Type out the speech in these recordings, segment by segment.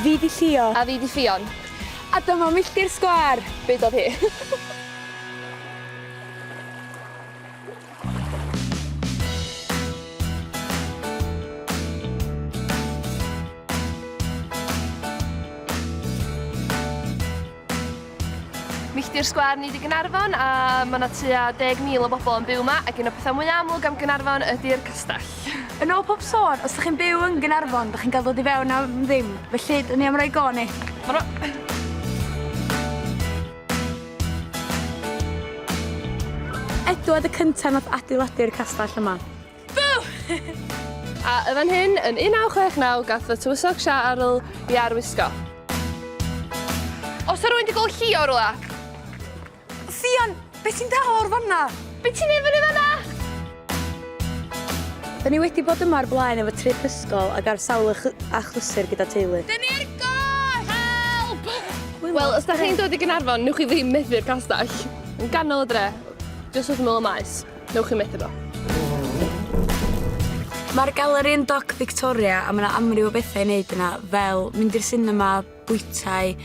Fi di Llio. A fi di Ffion. A dyma milltir sgwâr! Beudodd hi. Milltir sgwar ni di Gynarfon a mae yna tua 10,000 o bobl yn byw yma ac un o'r pethau mwyaf amlwg am Gynarfon ydy'r castell. Yn ôl pob sôn, os ydych chi'n byw yn Gynarfon, ydych chi'n cael dod i fewn am ddim, felly dyn ni am roi go ni. Helo! Edw oedd y cyntaf nath adeiladu'r castell yma. A yn fan hyn, yn 1969, gath fy tywysog Siarl i arwisgo. Os rwy'n dy gol chi o rwla? Ffion, beth ti'n dal o'r fanna? Be ti'n neud fyny fanna? Da ni wedi bod yma ar blaen efo trip ysgol ac ar sawl achlysur gyda teulu. Da ni ar goll! Help! Wel, os da chi'n dod i Gynarfon, newch chi ddim methu'r castell. Yn ganol y dre, jyst wrth ymyl y maes, newch chi methu fo. Mae'r galeri yn Doc Victoria a mae yna amryw o bethau i wneud yna, fel mynd i'r sinema, bwytai,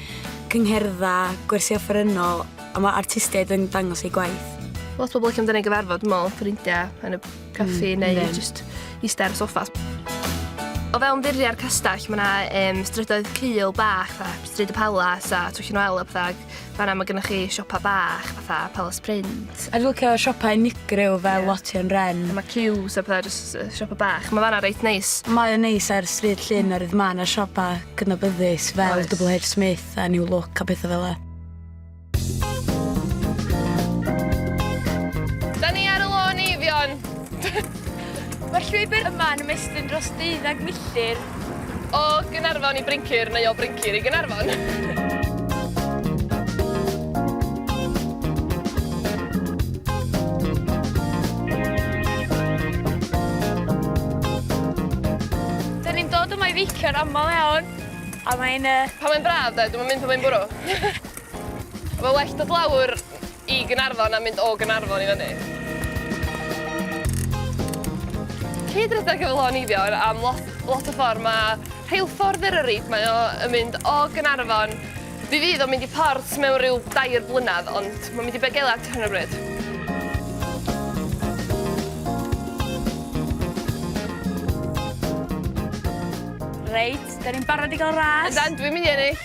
cyngherddau, gwersi offerynnol a mae artistiaid yn dangos eu gwaith. Lot o bobl allan dyna gyfarfod, dwi'n meddwl, ffrindiau yn y caffi mm, neu yeah. just eistedd ar y soffa. O fewn ddiriau'r castell, mae yna um, strydoedd cul bach, a stryd y palas a twll yn wel a pethau. Fanna mae gennych chi siopa bach, fatha Palace Print. A dwi'n licio siopau unigryw fel yeah. Lotion Ren. A mae queues a pethau, just siopa bach. Mae fanna reit neis. Mae o'n neis ar stryd llun mm. o'r mae yna siopa gydnabyddus fel Oes. Double H Smith a New Look a pethau fel e. Da ni ar y lôn eifion. Mae'r llwybr yma yn ymestyn dros deuddeg milltir O Gaernarfon i Bryncir neu o Bryncir i Gaernarfon? Dyn ni'n dod yma i feicio'n aml iawn a mae'n yy... Pan mae'n braf de, dwi'm yn mynd pan mae'n bwrw. Mae well dod lawr I Gaernarfon a mynd o Gaernarfon i fyny. Cyd redeg efo Lôn Eifion am lot lot o ffordd mae rheilffordd Eryri mae o yn mynd o Gaernarfon fe fydd o'n mynd i Port mewn rhyw dair blynedd ond mae'n mynd i Begelert ar hyn o bryd. Reit, 'dan ni'n barod i gael ras. Ydan, dwi'n mynd i ennill!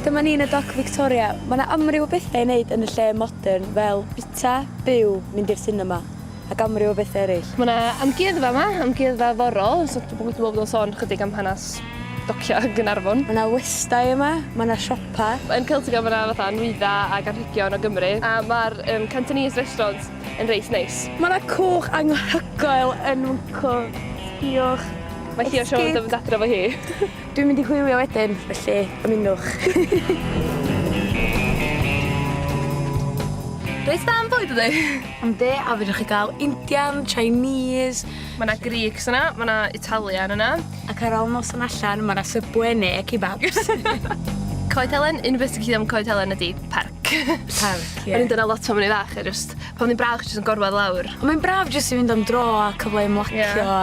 Dyma ni yn y Doc Victoria. Mae yna amryw o bethau i wneud yn y lle modern fel bwyta, byw, mynd i'r sinema ac amryw o bethau eraill. Mae yna amgueddfa yma, amgueddfa forol, so dwi'n meddwl bod o'n sôn chydig am hanes dociau Gaernarfon. Mae yna westai yma, mae yna siopa. Yn Celtica mae yna fatha nwyddau ac anrhegion o Gymru a mae'r yym Cantonese restaurant yn reit neis. Mae yna cwch anghyhoel yn Mwnco. Sbïwch. Mae Llio Siôn yn mynd adref o hi. Dwi'n mynd i hwylio wedyn, felly ymunwch. Reit dda am bwyd ydi? Yndi, a fedrwch chi gael Indian, Chinese... Mae 'na Greeks yna, mae 'na Italian yna. Ac ar ôl noson allan, mae 'na Subway neu kebabs. Coed Helen, un peth ti'n gallu deud am Coed Helen ydi parc. Parc, ie. O'n i'n dod 'na lot pan o'n i'n fach a jyst, pan o'dd 'i'n braf jyst yn gorwedd lawr. Mae'n braf jyst i fynd am dro a cyfle i ymlacio a...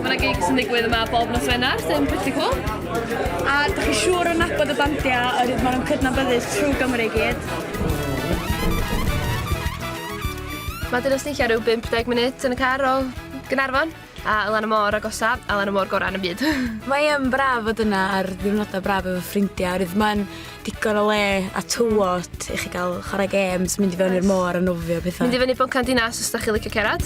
Mae yna gigs yn digwydd yma bob nos Wener, sy'n pretty cool. A da chi siŵr yn nabod y bandiau o'r hyd maen nhw'n cydnabyddus trwy Gymru gyd. Mae dyna snicio rhyw 50 munud yn y car o Gynarfon a lan y môr agosa a lan y môr gorau yn y byd. Mae yn braf fod yna ar ddiwrnodau braf efo ffrindiau oherwydd mae'n digon o le a tywod i chi gael chwarae games, mynd i fewn i'r môr a nofio pethau. Mynd i fyny Boncan Dinas os da chi licio cerad.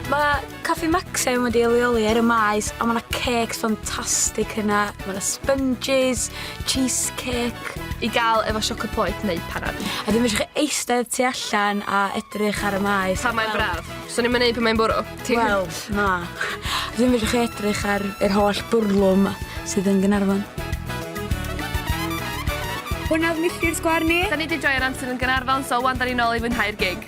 Mae Caffi Maxim wedi leoli ar y maes a mae yna cakes ffantastig yna. Mae yna sponges, cheesecake. I gael efo siocled poeth neu panad. A ddim eisiau chi eistedd tu allan a edrych ar y maes. Pan mae'n braf. So ni'n mynd pan mae'n bwrw? Ti... Wel, na. Dwi'n medru chi edrych ar yr holl bwrlwm 'ma sydd yn Gaernarfon. Hwnna odd milltir sgwar ni. 'Da ni 'di joio'r amser yn Gaernarfon so ŵan 'da ni nôl i fwynhau'r gig.